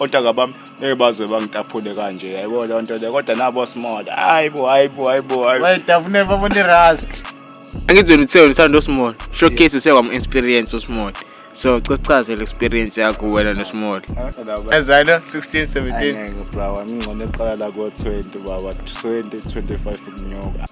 otaka bami ngeke baze bangitaphule kanje yayibona leyo nto leyo kodwa nabo small hayi bo hayi bo hayi bo hayi bo. wayitafune babone ras angithi wena uthe uthanda usmall showcase usekwam-experience usmall so cesichaze le experience yakho wena nosmall Ngakho laba- ezalo 16 17 Angeke bra wami ngcono eqala la ko-20 baba 20 25 ukunyuka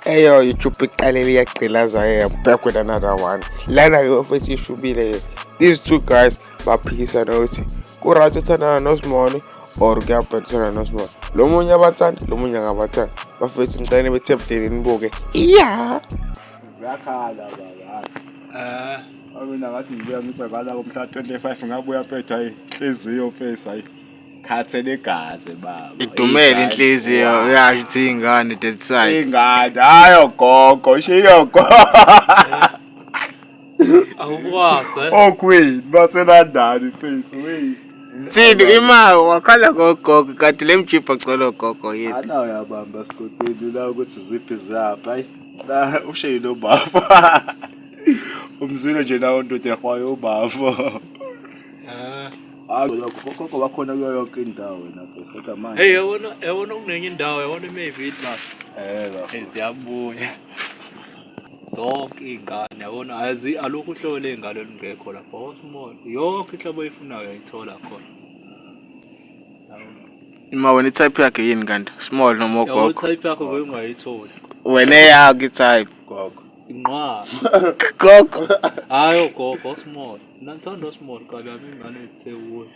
eyo youtube iqalele iyagqilaza yeyabhekwe another one lana-ke ofethi ishubile-ke these two guys baphikisana ukuthi ku-right uthandana nosimoni or kuyabheda uthandana nosimoni lo munye abathanda lo munye akabathanda bafethu ngicele bethe budeni nibuke iya yakhala baba mina ngathi ngibuya ngithi ngala komhla 25 ngabuya phetha hayi inhliziyo face hayi khathe legazi baba idumele inhliziyo uyasho ukuthi ingane dead side ingane hayo gogo shiyo gogo awukwazi eh? okwini baselandani face wey Nsini ima wakhala ngogogo kanti le mjipha cela ogogo yini ana uyabamba sikotheni la ukuthi ziphi ziyapha ayi la ushe yilo baba umzwile nje nawo ndoda ehwayo ubafo ah akukho bakhona kuyo yonke indawo wena bese kodwa manje hey yabona yabona kunenye indawo yabona maybe it must eh siyabuya Zonke iy'ngane yabona alukho uhlobo ley'ngane olungekho lapho wonke umuntu yonke inhlobo oyifunayo uyayithola khona Uma wena i-type yakhe yini kanti? Small noma Yabo ogogo? type yakho ngeke ungayitholi. Wena eyakho i-type. Gogo. Inqwaba. Gogo. Hayi ogogo osmall. Mina ngithanda osmall kabi yami ingane ezithe kuyo.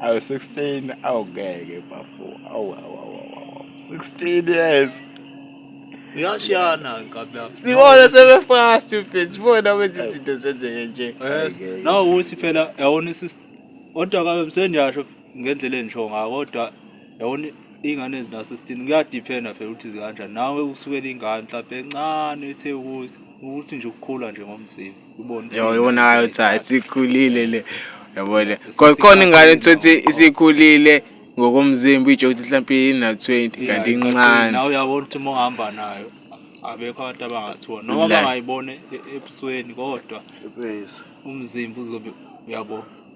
awu 16 awungeke bafo awu awu awu awu 16 years uyashiyana nkabi yakho sibona sebefast mfethu bona wenza izinto zenzeke nje yes Ayike. nawu ukuthi phela yawona isisi kodwa kabe msendiyasho ngendlela engisho ngayo kodwa yabona iy'ngane ezinasesitini kuyadiphenda phela ukuthi zikanjani nawe usukela ingane mhlawumpe encane ethe ukuthi ukuthi nje ukukhula nje ngomzimba ubone yona ukuthi hayi sikhulile le yabona khona ingane ethothi isikhulile ngokomzimba itsho ukuthi mhlawumpe ina-twenty kanti incane nawe uyabona ukuthi uma uhamba nayo abekho abantu abangathiwa noma bangayibone e-, ebusweni kodwa umzimba uzobe uyabo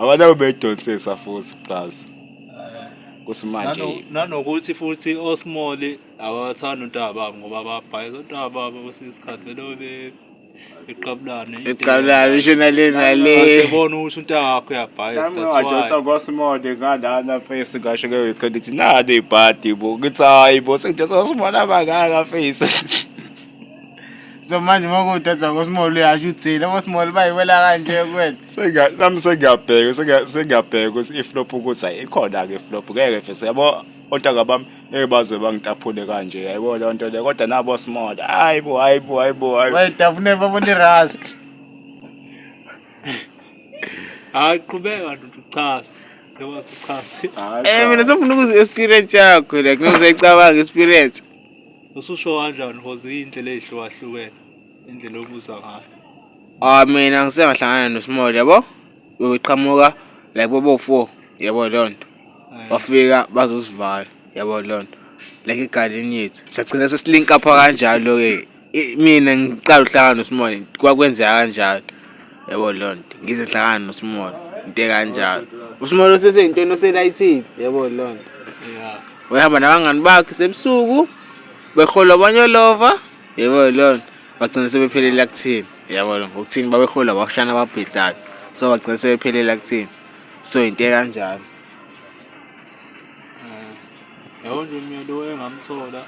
abantu abebedonsisa futhi plus kuthi manje nanokuthi futhi osmall abathanda untaba babo ngoba babhayiza untaba babo kwesinye isikhathi belobe iqabulane iqabulane isho nale nale sebona ukuthi untanga wakho uyabhayiza nami ngadonsa ngosmode ngalana face ngasho ke uyikho ndithi nani ibhadi bo ngithi hayi bo sengidonsa ngosmode abangaka face so manje uma kuwudathi wakosmolo uyasho uthini abosmolo bayiwela kanje kwena Senga- nami sengiyabheka sengiya- sengiyabheka ukuthi iflop ukuthi ayi ikhona-ke iflop ngeke fese yabo ontanga bami ngeke baze bangitaphule kanje yayibo leyo nto leyo kodwa nabo small hayi bo hayi bo hayi bo hayi bo. bayitafune babona iras hayi qhubeka ntuchase njengoba sichase Hhayi, Eh cha. mina sengifuna ukuza experience yakho like nozayicabanga experience. Ususho kanjani because iy'ndlela ey'hlukahlukene indlela obuza ngayo. Ah mina ngisengahlangana noSmall yabo. Bebeqhamuka like bobo four yabo leyo nto. Eh. Wafika bazosivala yabo leyo nto. Like egadini yethu. Sagcina sesilink up kanjalo-ke. mina ngiqala uhlangana noSimoni kwakwenzeka kanjalo yabo leyo nto ngize ngihlangana noSimoni into ekanjalo uSimoni oseseyintweni oselayithile yabo leyo nto uyahamba nabangani bakhe sebusuku behola abanyolova yabo leyo nto bagcina sebephelele akuthini yabo leyo ngokuthini babehola abashana ababhedlayo so bagcina sebephelele akuthini so into ekanjalo Yabo nje mina lo engamthola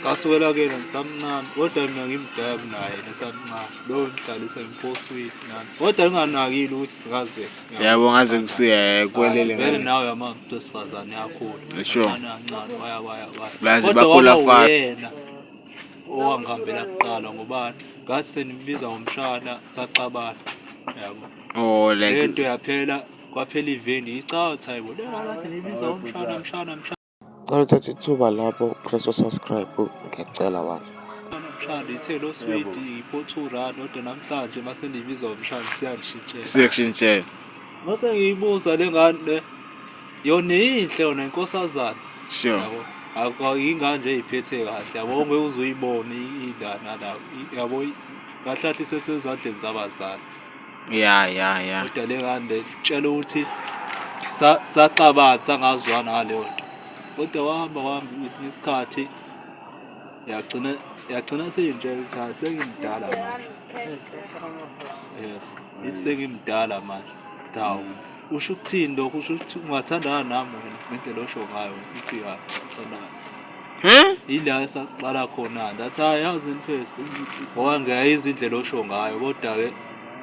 kasukela kuyena ngisamncane kodwa mina ngimdala kunaye nesamncane lowo ngidlalisa ngiphoswile nami kodwa nginganakile ukuthi sikaze yabo ngaze ngisiyelele vele nawe yama mntu wesifazane yakhula kancane waya waya waya kodwa wawuyena owangihambela kuqala ngoba ngathi senimbiza ngomshana saxabana yabo oh like into yaphela kwaphela iveni icotha yibo lelalathi nibiza umshana mshana mshana Cela uthathe ithuba lapho press subscribe ngiyacela wani. Mshana ithe lo sweet ipho 2 rand kodwa namhlanje mase nibiza umshana siyangishintshela. Siyakushintshela. Mase ngiyibuza lengane yona inhle yona inkosazana. Sure. Yabo. Akho ingane nje iphethe kahle yabo ngeke uzuyibone indana lapho yabo kahlathi sesezandleni zabazali. ya ya ya kodwa le ngane tshela ukuthi saxabanisa sangazwana ngaleyo nto kodwa wahamba wahamba ngesinye isikhathi yagcina yagcina seyinje cha sengimdala manje um ithi sengimdala manje dawu usho ukuthini lokho usho ukuthi ungathandana nami wena ngendlela osho ngayo ithi ya uthandana Huh? Yila esaqala khona that ayazi mfethu ngoba ngiyayiza indlela osho ngayo kodwa-ke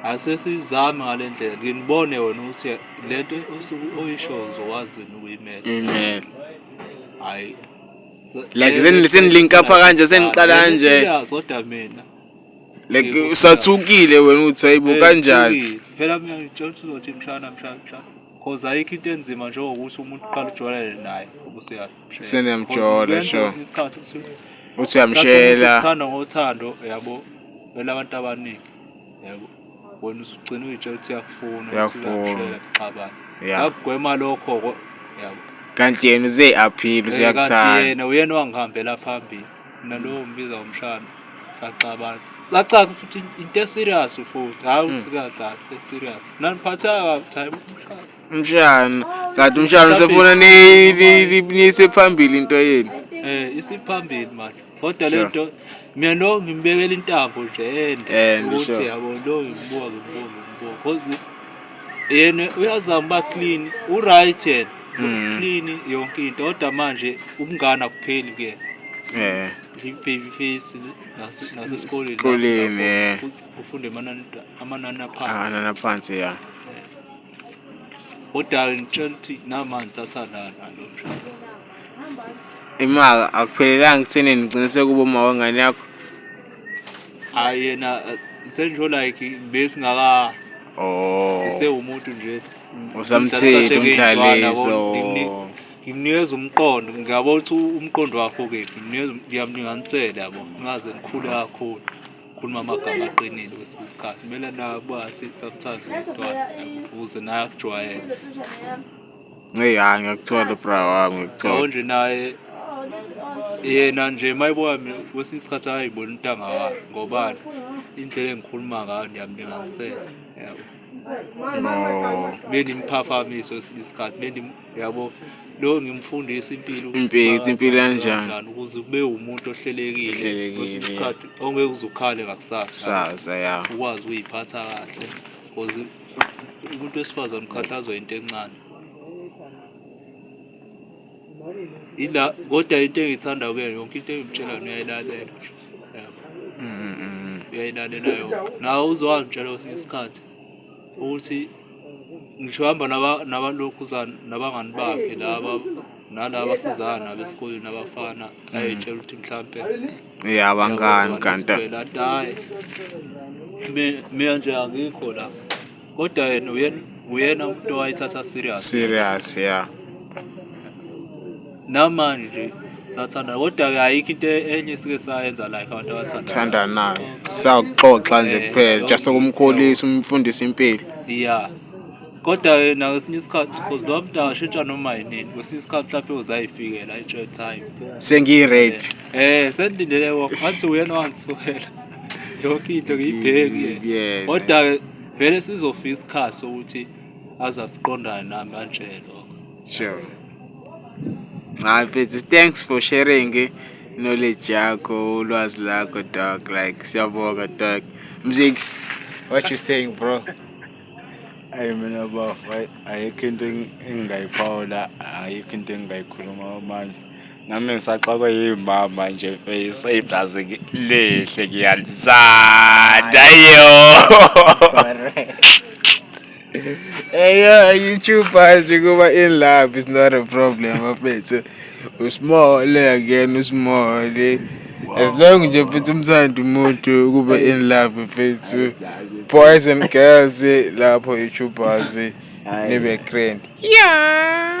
asesizame ngale ndlela nginibone wena ukuthi le nto osuke oyisho uzokwazini ukuyimela imela hhayi like senilinka pha kanje seniqala kanje kodwa mina like usathukile wena ukuthi hayibo eh, kanjani phela mina ngitshela ukuthi uzothi mshana mshana mshana cause ayikho into enzima njengokuthi umuntu uqala ujwayelele naye ubusuyazi Sisene yamjola sho. Uthi uyamshela. Uthanda ngothando yabo. Bela abantu abaningi. Yabo. Wena usugcina uyitshela ukuthi uyakufuna. Uyakufuna. Xabana. Yakugwema lokho yabo. Kanti yena uze aphile useyakuthanda. Kanti yena uyena wangihambela phambili. Mina lo ngibiza umshana. saxabanisa lacaca ukuthi into eserious futhi hhayi ukuthi hmm. kakade eserious naniphatheka kabuthi hayi umshana kanti umshana usefuna niyise phambili into yenu eh isiphambili manje kodwa le nto mina no ngimbekela intambo nje ende ukuthi yabo lo ngibuka ngibuka ngibuka cause yena uyazama ba clean u right yena mm. clean yonke into kodwa manje ubungana kupheli kuyena eh baby face nasesikoleni koleni eh. ufunde amanani amanani aphansi amanani aphansi ya Udala ngitshela ukuthi namanzi athandana lo mshado. Imaka akuphelelanga ekutheni nigciniseke uboma wengane yakho. Hhayi yena eh, sengisho like besingaka Oh. sewumuntu nje. Usamthinta umdlaliso. Ngimnikeza umqondo, ngiyabona ukuthi umqondo wakho kephi, ngimnikeza ngiyamlinganisela yabo, ngaze ngikhule kakhulu. khuluma amagama aqinile kwesinye isikhathi kumele nabazi sometimes umntwana akubuze naye akujwayele Hey hayi ngiyakuthola bra wami ngiyakuthola. Yabo nje naye yena nje mayibuka mina kwesinye isikhathi ayibona intanga wakhe ngobani indlela engikhuluma ngayo ngiyamlinganisela yabo. no bendimphafamise esinye isikhathi bendim yabo lo ngimfundisa impilo impilo impilo kanjani ukuze kube umuntu ohlelekile kwesinye isikhathi ongeke uzukhale ngakusasa saza ya ukwazi ukuyiphatha kahle because umuntu wesifazane ukhathazwa into encane ila kodwa into engithanda kuye yonke into engimtshela yona uyayilalela uyayilalela yona nawe uzowangitshela kwesinye isikhathi ukuthi ngisho hamba nabalokhuzana nabangani bakhe laba nalaba sizana besikoleni abafana ayetshela ukuthi mhlampe ya abangani kanti mina nje angikho la kodwa yena uyena uyena umuntu owayithatha serious serious ya namanje sathanda kodwa ke ayikho into enye esike sayenza like abantu abathandana thandanayo sakuxoxa nje Eh, kuphela yonke just ukumkhulisa umfundisa impilo ya kodwa ke nakwesinye isikhathi because lowa mntu angashintsha noma yinini kwesinye isikhathi mhlawumpe uzayifikela i-joy time sengiyi-ready um sendilele wona ngathi uyena wangisukela yonke into ngiyibhekile Ngiyibheke. kodwa vele sizofika isikhathi sokuthi azakuqondana nami kanjena lokho Sure. Hayi mfethu, thanks for sharing eh, knowledge yakho, ulwazi lakho dog. Like siyabonga dog. Mzix, what you saying bro? ayi mina bafo ayikho into engingayiphawula ayikho into engingayikhuluma manje nami ngisaxakwe yimama nje face iblazi lihle ngiyalithanda yo eyo youtubers ukuba in love is not a problem bafethu usimole again usimole as long nje futhi umsandi umuntu ukuba in love bafethu boys and girls lapho youtubers nibe grand yeah